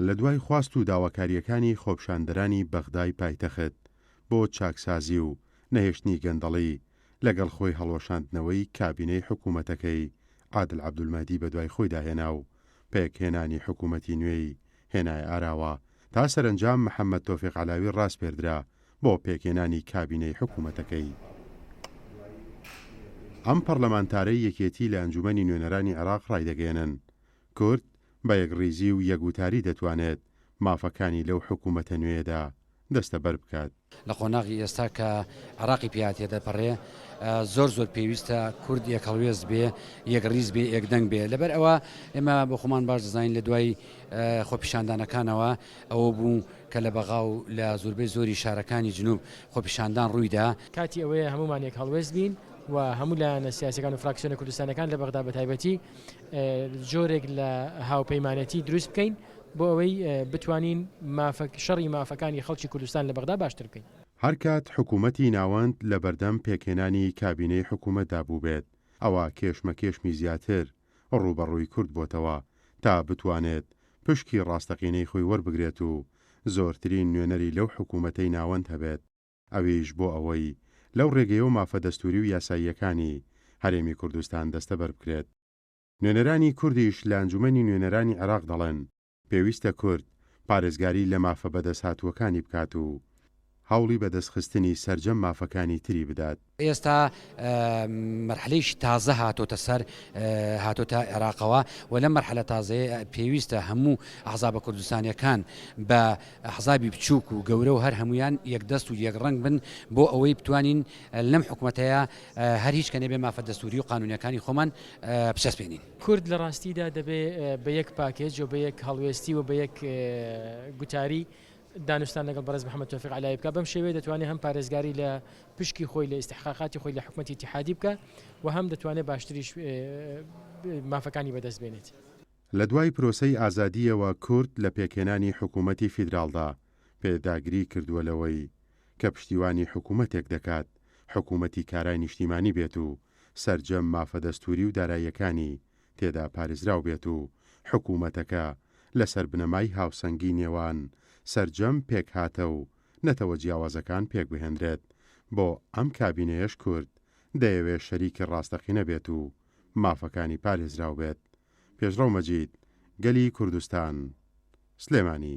لە دوای خواست و داواکارییەکانی خۆپیشاندەرانی بەغدای پایتەخت بۆ چاکسازی و نەهێشتنی گەندەڵی، لەگەڵ خۆی هەڵوەشاندنەوەی کابینەی حکوومەتەکەی عادل عەبدولمەهدی بەدوای خۆیدا هێنا و پێکهێنانی حکوومەتی نوێی هێنایە ئاراوە تا سەرەنجام محەممەد تۆفیق عەلاوی ڕاسپێردرا بۆ پێکهێنانی کابینەی حکوومەتەکەی. ئەم پەڕلەمانتارەی یەکێتی لە ئەنجوومەنی نوێنەرانی عێراق ڕایدەگەیەنن، کورد بە یەکڕیزی و یەک وتاری دەتوانێت مافەکانی لەو حکوومەتە نوێیەدا دەستەبەر بکات. لە قۆناغی ئێستا کە عێراقی پێیا تێدەپەرێ زۆر زۆر پێویستە کورد یەک هەڵوێست بێ یەک ڕیز بێ یەک دەنگ بێ لەبەر ئەوە ئێمە بۆ خۆمان باش دەزانین لە دوای خۆپیشاندانەکانەوە ئەوە بوو کە لە بەغا و لە زوربەی زۆری شارەکانی جنوب خۆپیشاندان ڕوویدا کاتی ئەوەیە هەموومان یەک هەڵوێست بین و هەموو لایەنە سیاسەکان و فراکسیۆنە کوردستانەکان لە بەغدا بەتایبەتی جۆرێک لە هاوپەیمانێتی دروست بکەین. بۆ ئەوەی بتوانین مافە شەڕی مافەکانی خەڵکی کوردستان لە بەغدا باشتر بکەین. هەر کات حکوومەتی ناوەند لە بەردەم پێکهێنانی کابینەی حکوومەتدا بووبێت، ئەوا کێشمەکێشمی زیاتر ڕووبەڕووی کورد بۆتەوە تا بتوانێت پشکی ڕاستەقینەی خۆی وەربگرێت و زۆرترین نوێنەری لەو حکوومەتەی ناوەند هەبێت، ئەویش بۆ ئەوەی لەو ڕێگەیەوە مافە دەستووری و یاساییەکانی هەرێمی کوردستان دەستەبەر بکرێت. نوێنەرانی کوردیش لە ئەنجومەنی نوێنەرانی عێراق دەڵێن، پێویستە کورد پارێزگاری لە مافە بەدەستهاتووەکانی بکات و هەوڵی بەدەستخستنی سەرجەم مافەکانی تری بدات. ئێستا مەرحەلەیەکی تازە هاتۆتە سەر هاتۆتە عێراقەوە و لەم مەرحەلە تازەیە پێویستە هەموو ئەحزابە کوردستانیەکان بە ئەحزابی بچووک و گەورە و هەر هەموویان یەکدەست و یەک ڕەنگ بن بۆ ئەوەی بتوانین لەم حکومەتەیە هەر هیچ کە نەبێ مافە دەستووری و قانونیەکانی خۆمان بچەسپێنین. کورد لە ڕاستیدا دەبێ بە یەک پاکێج و بە یەک هەڵوێستی و بە یەک گوتاری دانوستان لەگەڵ بەڕێز محەمەد تۆفیق عەلایی بکا، بەم شێوەیە دەتوانێ هەم پارێزگاری لە پشکی خۆی لە ئیستحقاقاتی خۆی لە حکومەتی ئیتیحادی بکا و هەم دەتوانێ باشتریش مافەکانی بەدەست بێنێت. لە دوای پرۆسەی ئازادییەوە کورد لە پێکهێنانی حکوومەتی فیدراڵدا پێداگری کردووە لەوەی کە پشتیوانی حکوومەتێک دەکات حکوومەتی کارای نیشتیمانی بێت و سەرجەم مافە دەستووری و داراییەکانی تێدا پارێزراو بێت و حکوومەتەکە لەسەر بنەمای هاوسەنگی نێوان سەرجەم پێکهاتە و نەتەوە جیاوازەکان پێک بهێنرێت، بۆ ئەم کابینەیەش کورد دەیەوێت شەریکی ڕاستەقینە بێت و مافەکانی پارێزراو بێت. پێشڕەو مەجید، گەلی کوردستان، سلێمانی.